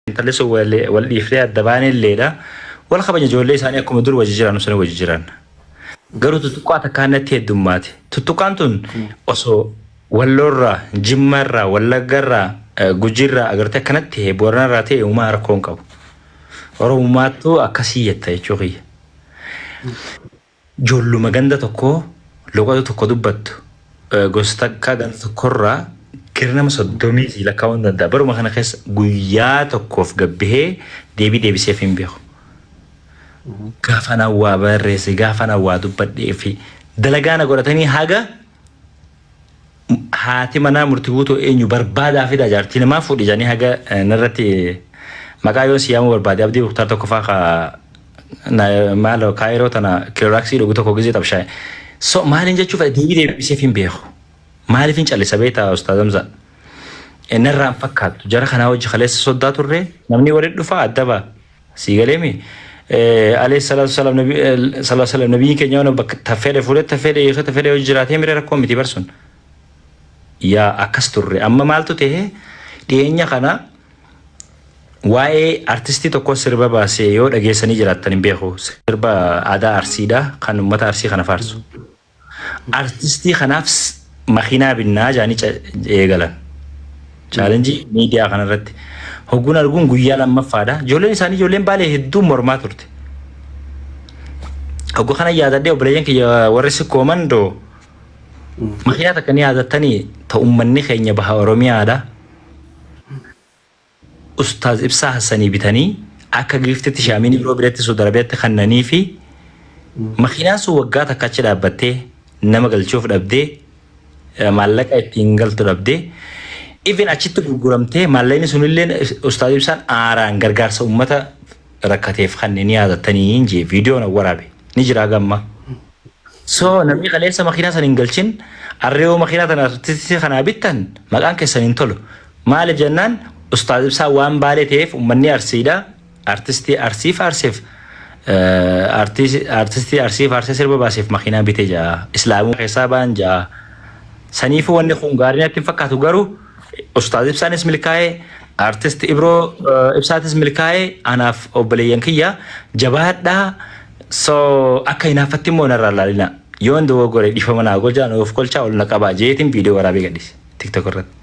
Intalli sun wal dhiifnee adda baane illeedha. Wal kabaja ijoollee isaanii akkuma dur wajji jiraannu sana wajji jiran. Garuu tuttuqqaa takkaan natti heddummaate. Tuttuqqaan tun osoo walloorraa, jimmarraa, wallaggarraa, gujirraa agartee akkanatti ta'e booranarraa ta'e uumaa rakkoo hin qabu. Oromummaattuu akkasii jetta jechuu kiyya. Joolluma ganda tokkoo loqoda tokko dubbattu gosa takka ganda tokkorraa gara nama soddomii sii lakkaa'uu hin danda'a. Baruma kana keessa guyyaa tokkoof gabbihee deebii deebiseef hin beeku. Gaafa na waa barreesse, gaafa na waa dubbadhee fi dalagaa na godhatanii haga Haati manaa murti guutuu eenyu barbaadaa fidaa jaartii namaa fuudhi jedhanii haga eh, narratti maqaa yoon siyaamuu barbaade abdii buktaa tokko faa ka na- maalo kaayiroo tana kilooraaksii dhugu tokko gizee xabshaa'e. So maaliin jechuu fedha deebii deebisee hin beeku. Maaliif hin callisa beektaa ustaaz Hamzaa? Eh, Narraan fakkaattu jara kanaa hojii kaleessa soddaa turre namni walitti dhufaa adda ba'a. Sii galee mi? Alayhi salaatu wasalaam nabi sallallahu alaihi wasallam nabiin keenya waan bakka tafeedhe fuudhe tafeedhe hiikee tafeedhe yoo jiraatee mire rakkoo miti barsun. Yaa akkas turre amma maaltu ta'e dhiyeenya kana waa'ee artistii tokkoo sirba baasee yoo dhageessanii jiraattan hin beeku sirba aadaa arsiidha kan uummata arsii kana faarsu. Artistii kanaaf makiinaa binnaa jaanii eegalan. Chaalenjii miidiyaa kanarratti hogguun arguun guyyaa lammaffaadha. Ijoolleen isaanii ijoolleen baalee hedduun mormaa turte. Hoggu kana yaadadhee obboleeyyan kiyya warri sikkooman doo makiinaa takka ni yaadattanii ta ummanni keenya baha Oromiyaadha. Ustaaz Ibsaa Hassanii bitanii akka giiftitti shaamiinii biroo biratti Suud Arabiyaatti kannaniifi makiinaan sun waggaa takka achi dhaabbattee nama galchuuf dhabdee maallaqa ittiin galtu dhabdee even achitti gurguramtee maallaqni sunillee Ustaaz Ibsaan aaraan gargaarsa uummata rakkateef kanneen yaadattanii hin jee viidiyoon waraabe ni jiraa gamma. So namni kaleessa makiinaa san hin galchin arreewoo makiinaa tana tisi kanaa bittan maqaan keessan hin tolu. Maali jennaan ustaaz ibsaa waan baalee ta'eef ummanni arsiidha. Artistii arsii faarseef eh, artis- artistii arsii faarsee sirba baaseef makiinaa bite jaa. Islaamuu keessaa baan jaa. Saniifuu wanni kun gaarii natti hin fakkaatu garuu Ustaaz Ibsaanis milkaa'ee, Artist Ibroo eh, Ibsaatis milkaa'ee, anaaf obboleeyyan kiyya jabaadhaa. So akka hinaaffatti immoo narraa laalinaa. Yoon dogoggore dhiifama naa godhaa, na of kolchaa ol na qabaa jeetiin viidiyoo waraabee gadhiise TikTok irratti.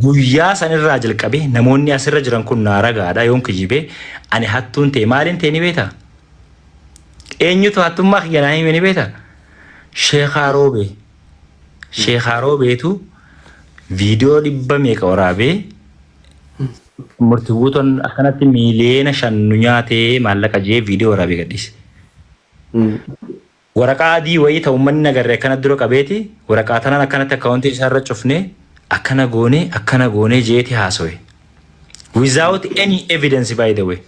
Guyyaa sanirraa jalqabee namoonni asirra jiran kun naa ragaadha yoon kijibee ani hattuun ta'e maaliin ta'e ni beektaa? Eenyutu hattummaa kiyya naa hime ni beektaa? Sheekaa Roobee. Sheekaa Roobeetu viidiyoo dhibba meeqa waraabee murti buutoon akkanatti miiliyoona shan nu nyaatee maallaqa jee viidiyoo waraabee gadhiise. Waraqaa adii wayii ta'u manni nagarre akkana dura qabeeti waraqaa tanaan akkanatti akkaawuntii isaarra cufnee akkana goonee akkana goonee jeeti haasawe. Without any evidence by the way.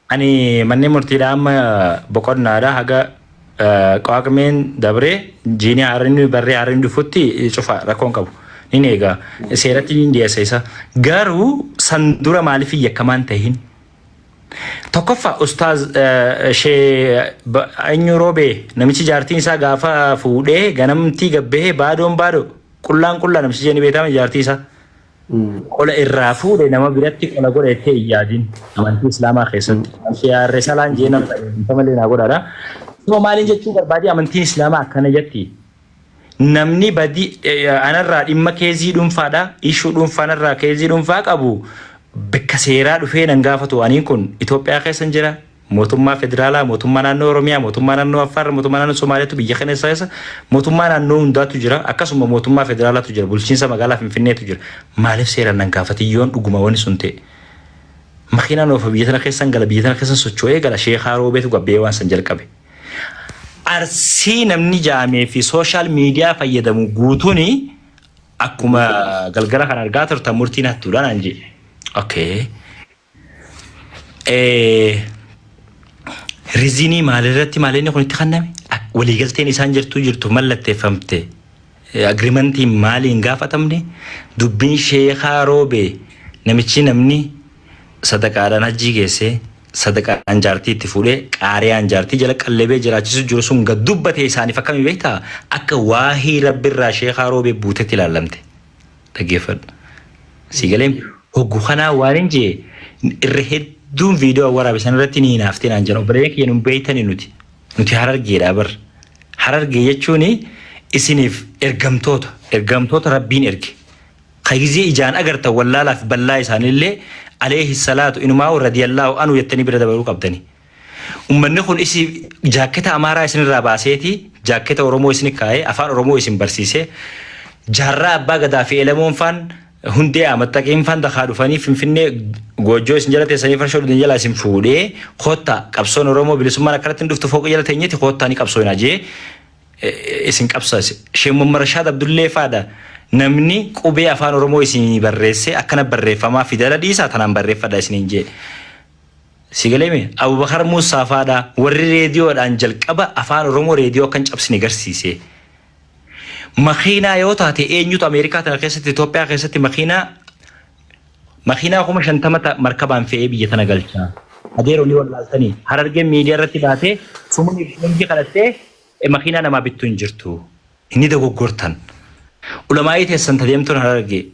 Ani manneen murtiidhaa amma boqonnaadha haga qaaqmeen dabree jiinii haarri barree haarri dhufutti cufa rakkoon qabu. Nin eegaa seeratti nin dhiyeessa isa. Garuu san dura maaliif hin yakkamaan tahin? Tokkoffaa ustaaz shee eenyu roobee namichi jaartiin isaa gaafa fuudhee ganamtii gabbahee baadoon baadoo qullaan qullaa namichi jee ni beekama jaartii isaa qola irraa fuudhe nama biratti qola godha jettee hin yaadin. Amantii Islaamaa keessatti. Shiyaarre salaan jee nama qajeelfama illee naa godhaadha. Soo maaliin jechuu barbaadee amantiin Islaamaa akkana jetti. Namni badii anarraa dhimma keezii dhuunfaadha. Ishuu dhuunfaa anarraa keezii dhuunfaa qabu bakka seeraa dhufee nan gaafatu aniin kun Itoophiyaa keessa hin jira. Mootummaa Federaalaa, Mootummaa Naannoo Oromiyaa, Mootummaa Naannoo Affaar, Mootummaa Naannoo Somaaliyaatu biyya kana keessa keessa Mootummaa Naannoo hundaatu jira. Akkasuma Mootummaa Federaalaatu jira. Bulchiinsa Magaalaa Finfinneetu jira. Maaliif seeraan nan gaafatin yoon dhuguma wani sun ta'e? Makiinaan oofa biyya tana keessan gala biyya tana keessan socho'ee gala sheekaa roobeetu gabbee waan san jalqabe. Arsii namni jaamee fi sooshaal miidiyaa fayyadamu guutuun akkuma galgala kan argaa turtan murtiin hattuudhaan anjee. Okay. Rizinii maalirratti maalinni kun itti kenname? Waliigalteen isaan jirtuu jirtu mallatteeffamte agirimantiin maalii hin gaafatamne? Dubbiin sheekaa roobee namichi namni sadaqaadhaan hajjii geessee sadaqaan jaartii itti fuudhee qaariyaan jaartii jala qallebee jiraachisu jiru sun gad dubbate isaaniif akkamii beektaa? Akka waahii rabbirraa sheekaa roobee buutetti ilaallamte. dhaggeeffadhu. Sii galee hoggu kanaa waan hin jee irra hedduun viidiyoo waraabe san irratti ni hinaaftee naan jedhan obboleeyyan kiyya nun beeytani nuti nuti harargeedha bar harargee jechuun isiniif ergamtoota ergamtoota rabbiin erge ka gizee ijaan agartan wallaalaaf ballaa isaanillee aleehi salaatu inumaa radiyallaahu anu jettanii bira dabaruu qabdani Ummanni kun isi jaakketa Amaaraa isinirraa baaseeti jaakketa Oromoo isini kaa'ee afaan Oromoo isin barsiisee jaarraa Abbaa Gadaa fi Elemoon faan Hundee Amaxxaqiin faan dakaa dhufanii Finfinnee goojjoo isin jala teessanii farshoo dhugdan jalaa isin fuudhee koottaa qabsoon Oromoo bilisummaan akkanatti hin dhuftu fooqii jala teenyeeti koottaa ni qabsooyinaa jee isin qabsaase. Sheek Muhammad Rashaad Abdullee faadha namni qubee afaan Oromoo isinii barreessee akkana barreeffamaa fidala dhiisaa tanaan barreeffadha isiniin jee. Sii galee mee? Abubakar Muussaa faa dha warri reediyoodhaan jalqaba Afaan Oromoo reediyoo akka hin cabsine garsiise. Makiinaa yoo taate eenyutu Ameerikaa tana keessatti Itoophiyaa keessatti makiinaa makiinaa kuma shantama ta markabaan fe'ee biyya tana galcha. Adeeroo ni wallaaltanii harargeen miidiyaa irratti baatee sumuni boonjii kadhattee makiinaa namaa bittu hin jirtu. Hin ni dogoggortan. Ulamaa'ii teessan ta deemtuun harargee.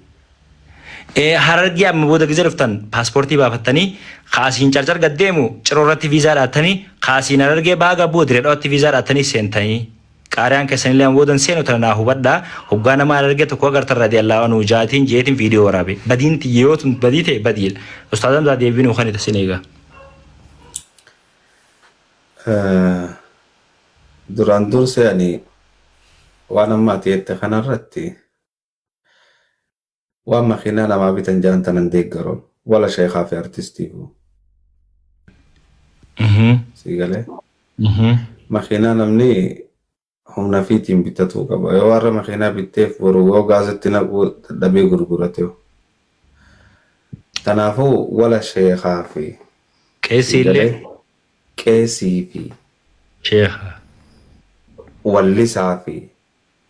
Eh, Harargee amma booda gize dhuftan paaspoortii baafattanii ka asiin carcar gad deemu ciroo irratti viizaa dhaattanii ka asiin harargee baha gabbuu dire dhawaatti viizaa dhaattanii seentanii. Qaariyaan keessanillee amma booda hin seenu tana naa hubadhaa. Hoggaa nama harargee tokko agartan radiyallaahu anhu jaatiin jeetiin viidiyoo waraabe. Badiin tiyya yoo tun badii ta'e badiidha. Ustaaz Hamzaa deebii nuu kani tasin eegaa. Duraan dursee ani waan amma ati jette kanarratti waan makiinaa namaa bitan jaan tanan deeggaru wala sheekaa fi artistiifu sii galee makiinaa namni humna fiitiin bitatuu qaba yoo warra makiinaa bitteef boru yoo gaazatti naquu dadhabee gurgurateef tanaafuu wala sheekaa fi Qeessi illee qeesii fi. sheekha. wallisaa fi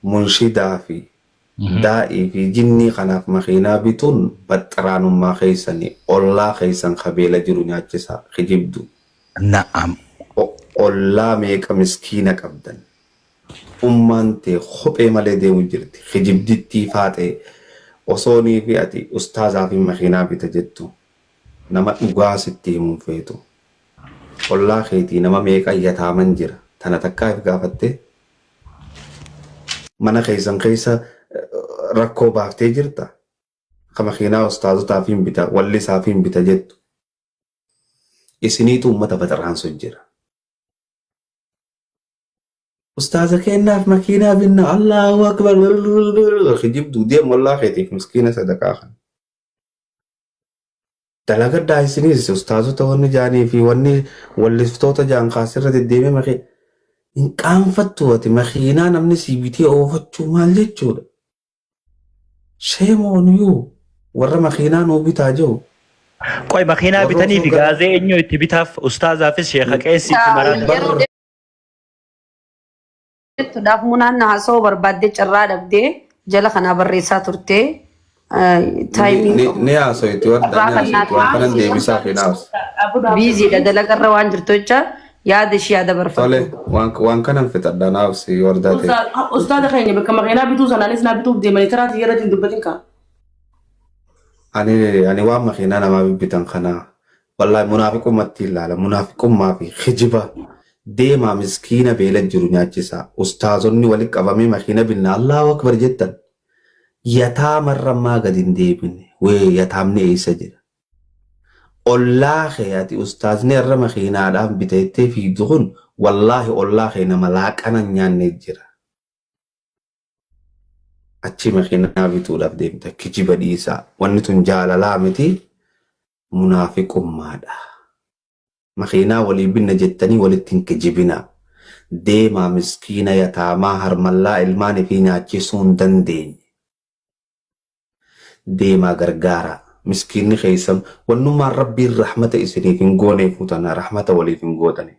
munshidaa fi daa'ii fi jinnii kanaaf makiinaa bituun baxxiraanummaa keessani ollaa keessan ka beela jiru nyaachisaa kijibduu. Na'am. ollaa meeqa miskiina qabdan ummaan tee kophee malee deemu jirti kijibdittii faaxee osoo niifi ati ustaazaafin makiinaa bita jettu nama dhugaa sitti himu hin feetu Ollaa keetii nama meeqa yataaman jira tana takkaa if gaafattee? Mana keessan keessa rakkoo baaftee jirta? Ka makiinaa ustaazotaafiin bita, wallisaafiin bita jettu. Isiniitu ummata baxaraansu jira. Ustaaza keennaaf makiinaa binna Allaahu akbar kijibdu deem ollaa keetiif miskiina sadaqaa kan. Dalagadhaa isinis ustaazota wanni jaanii fi wanni walliftoota jaan kaasirra deddeemee makee hin qaanfattu ati makiinaa namni sii bitee oofachuu maal jechuudha shame on you warra makiinaa nuu bitaa jiru Qoy makiinaa warra bitanii osoo fi gara gaazee eenyu itti bitaaf ustaazaafis sheeka qeessii fi maraatu. Bar Jechuudhaaf munaan haasawuu barbaaddee carraa dhabdee jala kanaa barreessaa turtee taayimii Ni haasoyti warda ni haasoyti waan kanan deebisaa fi naas. biiziidha dalagarra waan jirtu jecha yaada ishii yaada barfatu. Tole waan waan kanan fixadha naaf si wardaa ta'e. Ustaaz- Ustaaza keenya bakka makiinaa bituu sanaanis naa bituuf deemanii taraa xiyyaarra ittiin dubbatin kaa. Ani ani waan makiinaa namaa bibbitan kana Wallahi munaafiqummatti ilaala munaafiqummaa fi kijiba deemaa miskiina beela jiru nyaachisaa ustaazonni walitti qabamee makiina binna Allahu akbar jettan yataamarra maa gad hin deebine wee yataamni eessa jira ollaa kee ati ustaazni irra makiinaadhaan bita jettee fiigdu kun wallaahi ollaa kee nama laaqana hin nyaanne jira achii makiinaa bituudhaaf deemta kijiba dhiisaa wanni tun jaalalaa miti munaafiqummaadha makiinaa walii binna jettanii walitti hin kijibinaa deemaa miskiina yataamaa harmallaa ilmaan ifii nyaachisuu hin dandeenye deemaa gargaaraa miskiinni keessan wannummaan rabbiin rahmata isiniif hin gooneefuu tana rahmata waliif hin gootanii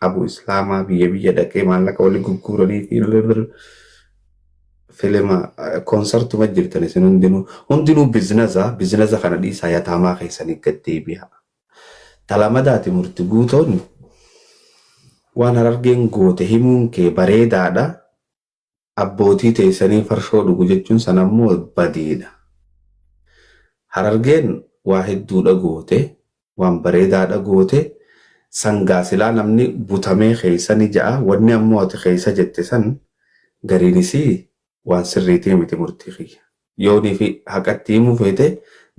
Abu Islaamaa biyya biyya dhaqee maallaqa wali gugguuranii fi birr filima koonsartuma jirtan isin hundinuu hundinuu biznaza biznaza kana dhiisaa yataamaa keessanii gad deebi'aa. Talamadaati murti guutoon waan harargeen goote himuun kee bareedaadha. abbootii teeysanii farshoo dhugu jechuun san ammoo badiidha. Harargeen waa hedduudha goote, waan bareedaadha goote, san gaa silaa namni butamee keeysa ni ja'a, wanni ammoo ati keeysa jette san gariin isii waan sirriitii miti murtii kiyya. Yooniifi haqa itti himuu feete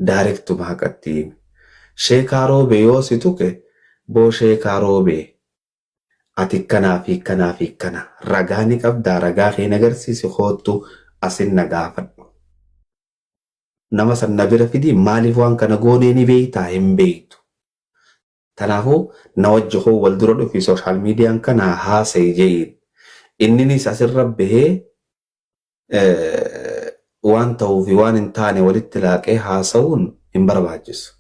daarektuma haqa itti himi. Sheekaa Roobee yoo si tuqe boo sheekaa Roobee Ati kkana fi kkana fi kkana. Ragaa ni qabdaa? Ragaa kee na garsiisi koottu asin na gaafadhu. Nama san na bira fidi maaliif waan kana goonee ni beektaa? Hin beektu. Tanaafuu na wajji koo wal dura dhufi social median kana haasayi je'iin. Inninis asirra bahee waan tahuu fi waan hin taane walitti laaqee haasawuun hin barbaachisu.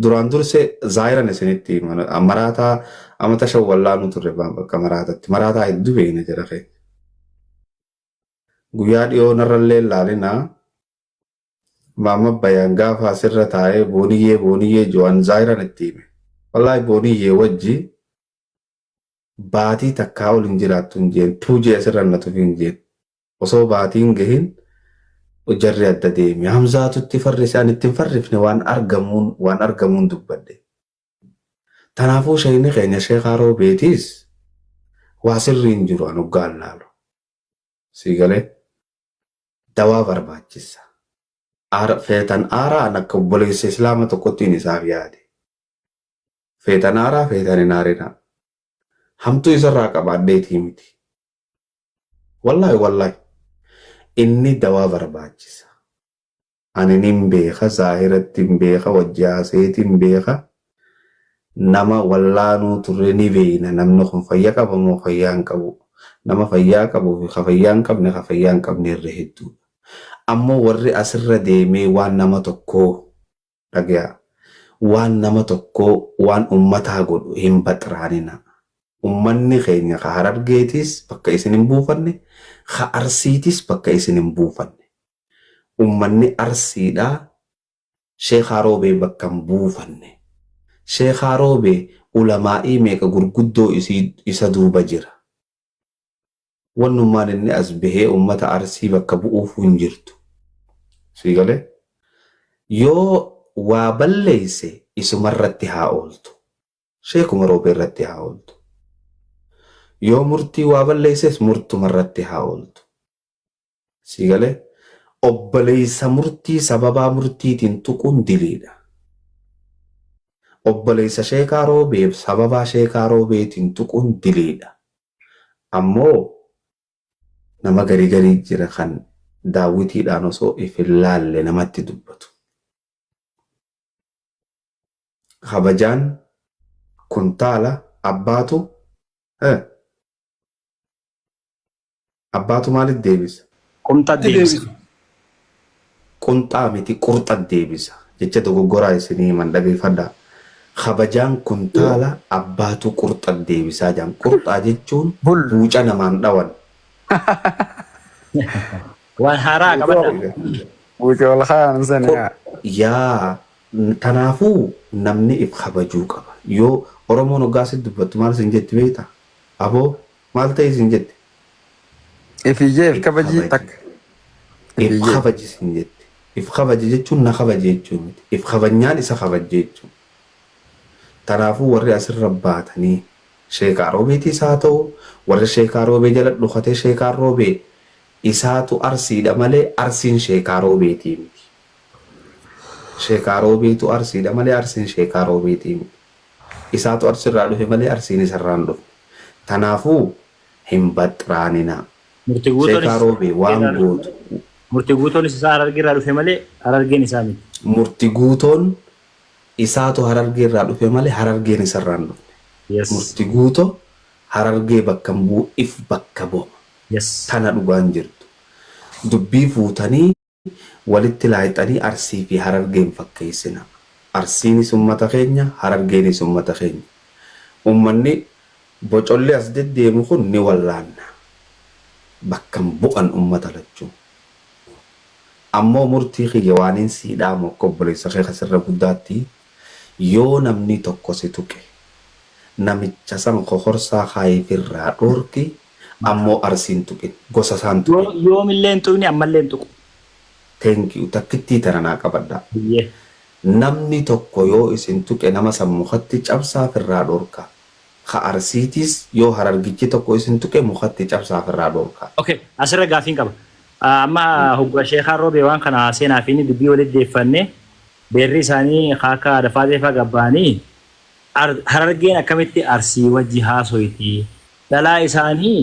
Duraan durse zaahiran isinitti hima. Maraataa amata shan wallaanuu turre baan bakka maraatatti. Maraataa hedduu beekna jira kee. Guyyaa dhiyoo narrallee laalina. Maamma bayaan gaafa asirra taa'ee booniyyee booniyyee jo'an zaahiran itti hime. Wallaahi booniyyee wajji baatii takkaa ol hin jiraattu hin jeen. Tuujee asirra na tufi hin jeen. Osoo baatii hin gahin jarri adda deeme. Hamzaatu itti farrise ani itti hin farrifne waan argamuun waan argamuun dubbadhe. Tanaafuu sheeyni keenya sheekaa roobeetiis waa sirrii hin jiru an hoggaan laalu. Sii galee? Dawaa barbaachissa. Aara feetan aaraa an akka obboleessa islaama tokkottiin isaaf yaade. Feetan aaraa feetan hin aarinaa. Hamtuu isarraa qabaadheetii miti. Wallahi wallahi inni dawaa barbaachisa ani nin beeka zaahirattin beeka wajji haasayeetin beeka nama wallaanuu turre ni beeyna namni kun fayya qaba moo fayyaa hin qabu nama fayyaa qabu fi ka fayyaa hin qabne ka fayyaa hin qabne irra hedduudha ammoo warri asirra deemee waan nama tokkoo Dhagayaa. Waan nama tokkoo waan ummataa godhu hin baxraaninaa. Ummanni keenya ka Harargeetiis bakka isin hin buufanne, ka Arsiitiis bakka isin hin buufanne. Ummanni Arsiidhaa Sheekaa Roobee bakka hin buufanne. Sheekaa Roobee ulamaa'ii meeqa gurguddoo isii isa duuba jira. wannummaan inni as bahee uummata arsii bakka bu'uufuu hin jirtu. Sii galee? Yoo waa balleesse isumarratti haa ooltu. Sheekuma roobee irratti haa ooltu. Yoo murtii waa balleesses murtumarratti haa ooltu. Sii galee? Obboleessa murtii sababaa murtiitiin tuquun diliidha. Obboleessa sheekaa roobee sababaa sheekaa roobeetiin tuquun diliidha. Ammoo nama garii garii jira kan daawwitiidhaan osoo if hin laalle namatti dubbatu. Kabajaan kuntaala abbaatu eh, Abbaatu maalit deebisa? Qunxat Atti deebisa. deebisa. Qunxaa miti qurxat deebisa. Jecha dogoggoraa isinii himan dhageeffadhaa. Kabajaan kuntaala abbaatu qurxat deebisaa jedhan. Qurxaa jechuun Bul. buuca namaan dhawan. Waan haaraa Buuca qabadha. wal- Buuca wal kaayan san Qur- yaa. Yaa n- kanaafuu namni if kabajuu qaba. Yoo Oromoon hoggaa si dubbattu maal sin jetti beektaa? Aboo Maal ta'e isin jette? If ijee if kabajii takka. If If ijee. kabaji isin jette. If kabaji jechuun na kabaji jechuu miti. If kabajnaan isa kabajje jechuu. Kanaafuu warri asirra baatanii sheekaa roobeetiis haa ta'u warri sheekaa roobee jala dhokatee sheekaa roobee isaatu arsiidha malee arsiin sheekaa roobeetii miti. Sheekaa roobeetu arsiidha malee arsiin sheekaa roobeetii miti. Isaatu Arsii irraa dhufe malee Arsiin isa irraa hin dhufne. Tanaafuu hin baxraaninaa. Murtee Guutoonis Sheekaa isaa Roobee Harargee waan irraa dhufe gootu. malee Murtee Guutoonis isaa Harargee irraa dhufe malee Harargeen isaa miti. Murtee Guutoon isaatu Harargee irraa dhufe malee Harargeen isa irraa hin dhufne. Yes. Murtee Guutoo Harargee bakka hin bu'u if bakka bu'a. Yes. Tana dhugaan jirtu. Dubbii fuutanii. walitti laayxanii Arsii fi Harargee hin fakkeessinaa. Arsiinis ummata keenya, Harargeenis ummata keenya. Ummanni bocollee as deddeemu kun ni wallaanna. Bakka hin bu'an ummata lachuu. Ammoo murtii kiyya waaniin sii dhaamu akka obboleessa kee ka sirra guddaatti, yoo namni tokko si tuqe, namicha san kokorsaa kaa'iif irraa dhoorki, Ammoo Arsii hin tuqin. Gosa isaa hin tuqin. Yoomillee hin tuqni ammallee hin tuqu. Thank you takkittii tana naa qabadhaa. Hayyee. Namni tokko yoo isin tuqe nama san mukatti cabsaa firraa dhorkaa. Ka Arsiitiis yoo Harargichi tokko isin tuqe mukatti cabsaa firraa dhorkaa. Ok asirra gaafiin qaba. Amma hogguma sheekaan roobee waan kana seenaa fi inni dubbii walitti deeffanne beerri isaanii ka akka Aada Faatee faa gabba'anii Harargeen akkamitti Arsii wajji haasoyti Dhalaa isaanii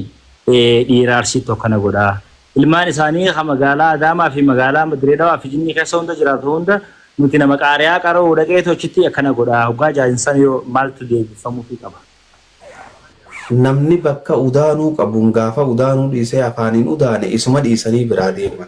dhiiraa Arsiittu akkana godha. Ilmaan isaanii ka magaalaa Adaamaa fi magaalaa Direedawaa fi Jinnii keessa hunda jiraatu hunda nuti nama qaari'aa qara'uu dhaqeetu achitti akkana godha. Hoggaa jaan san yoo maaltu deebifamuufii qaba? Namni bakka udaanuu qabuun gaafa udaanuu dhiisee afaaniin udaane isuma dhiisanii biraa deeman.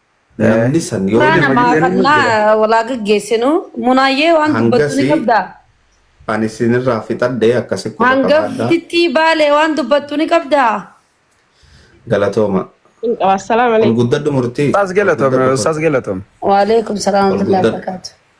Namni san yoo Suuraa nama namaa jedhanii kannaa hojjeta. walaa gaggeessinu. Munaayyee waan dubbattu ni Hangasi qabdaa? ani isinirraa fixadhe akkasi quba qabaadha. Hangaftittii baalee waan dubbattu ni qabdaa? Galatooma. Hin qaba. Assalaamu Ol alaikum. guddadhu murtii. Ustaz Ol Galatom, guddadhu kun. Ustaz Galatom. Waaleekum salaam Ol warahmatullahi guddadhu. wabarakaatu.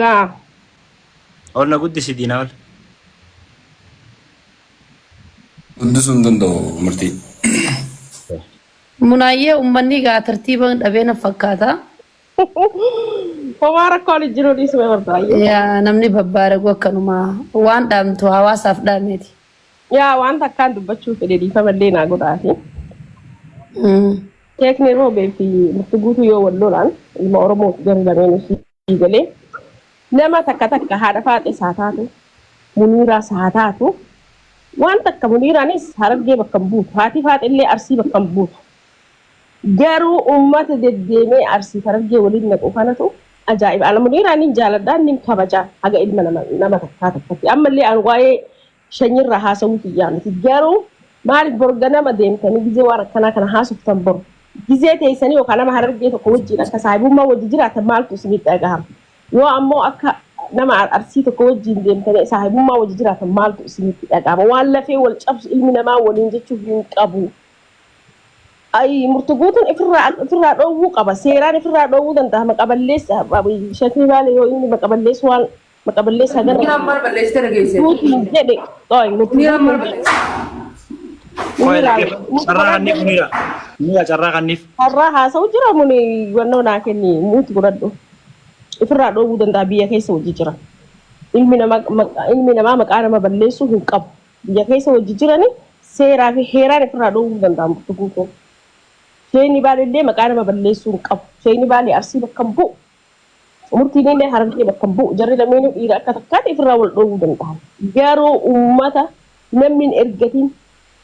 Yaa. Ol na guddisi diinaa ol. Guddisuu hin danda'u murtii. Munaayyee ummanni egaa tartiiba dhabee na fakkaata. Homaa rakkoon hin jiru dhiisuma barbaayye. Yaa namni babbaaragu akkanuma waan dhaamtu hawaasaaf dhaameeti. Yaa waan takkaan dubbachuu fedhe dhiifama illee naa godhaati. Sheekni Roobee fi Mufti Guutuu yoo wal lolaan ilma Oromoo garri lameen ishii galee nama takka takka haadha faaxees haa taatu muniiraas haa taatu waan takka muniiraanis harargee bakka hin buutu haati faaxee illee arsii bakka hin buutu. Garuu ummata deddeemee Arsii fi Harargee waliin naqu kanatu ajaa'iba. Ana Muniiraa nin jaaladha, nin kabaja haga ilma nama nama takkaa takkatti. Ammallee an waa'ee shanyiirraa haasawuu kiyyaa miti. Garuu maaliif bor ganama deemtanii gizee waan akkanaa kana haasoftan bor gizee teessanii yookaan nama Harargee tokko wajjiin akka saahibummaa wajji jiraattan maaltu isinitti dhagahama? Yoo ammoo akka nama Arsii tokko wajjiin deemtanii saahibummaa wajji jiraattan maaltu isinitti dhagahama? Waan lafee wal cabsu ilmi namaa waliin jechuu hin qabu. Ayii murtu guutun ifirraa ifirraa dhoowwuu qaba seeraan ifirraa dhoowwuu danda'a maqa balleessa shakni baale yoo inni maqa balleessu waan maqa balleessa hagana Miiraan maal balleessite dhageesse? guutiin jedhe qoy murtu Miiraan maal guutiin balleessite? Qoy miraa dhaggeeffa. murtu Carraa godhadhu kanniif miira. Miira carraa kanniif. har'aa haasa'u jira muni wannoo naa kenni murtu godhadhu ifirraa dhoowwuu danda'a biyya keessa hojii jira ilmi namaa maqa- ilmi namaa maqaa nama balleessuu hin qabu biyya keessa wajji jirani seeraa fi heeraan ifirraa dhoowwuu hin danda'an Burtukuu koo. Sheeyni Baalee illee maqaa nama balleessuu hin qabu. Sheeyni Baalee Arsii bakka hin bu'u. Murtiin illee Harargee bakka hin bu'u. Jarri lameenuu dhiira akka takkaatti ifirraa wal dhoowwuu danda'an. Garuu ummata namni hin ergatiin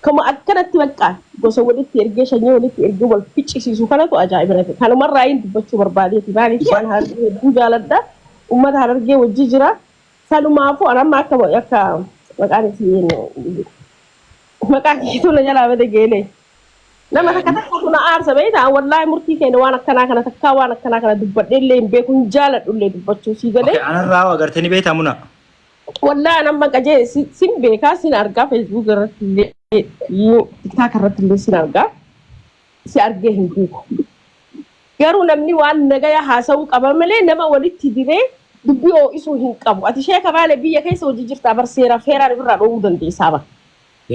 kama akkanatti baqqaa gosa walitti ergee shanyii walitti ergee wal ficcisiisu kanatu ajaa'iba nati. Kanuma irraayiin dubbachuu barbaadeeti. Maaliif waan Harargee hedduu jaaladha. Ummata Harargee wajji jira. Sanumaafuu an amma akka akka maqaan isii maqaan ishiitu na jalaa bade geelee. Nama takka takkaatu na aarsa beekta an wallaahi murtii keenya waan akkanaa kana takkaa waan akkanaa kana dubbadhee illee hin beeku hin jaaladhu illee dubbachuu sii galee. Okay, anarraa hoo agartee ni beektaa muna? Wallaahi an amma qajee si- sin beekaa sin argaa feesbuuk irratti illee tiktaak irratti illee sin argaa. si argee hin beeku. Garuu namni waan nagaya haasa'uu qaba malee nama walitti diree dubbii oo'isuu hin qabu. Ati sheeka baalee biyya keessa hojii jirtaa bar seeraaf heeraan ofirraa dhoowwuu dandeessaa bar.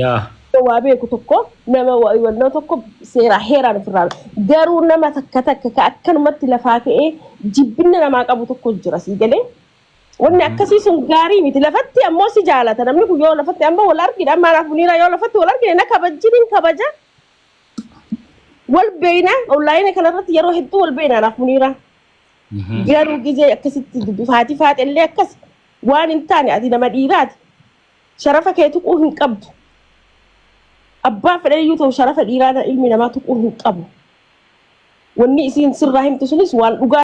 Yaa. Waa beeku tokko nama wa- nama tokko seeraa heeraan ofirraa garuu nama takka takka ka akkanumatti lafaa ka'ee jibbinna namaa qabu tokko jira sii galee. Wanni akkasii sun gaarii miti lafatti ammoo si jaalata namni kun yoo lafatti amma wal argina amma anaaf muniiraa yoo lafatti wal argine na kabajjin hin kabaja wal beeyna onlaayina kanarratti yeroo hedduu wal beeyna anaaf muniira garuu gizee akkasitti dubbi faati faati illee akkas waan hin taane ati nama dhiiraati sharafa kee tuquu hin qabdu abbaa fedhe iyyuu ta'u sharafa dhiiraa ilmi namaa tuquu hin qabu wanni isiin sirraa himtu sunis waan dhugaa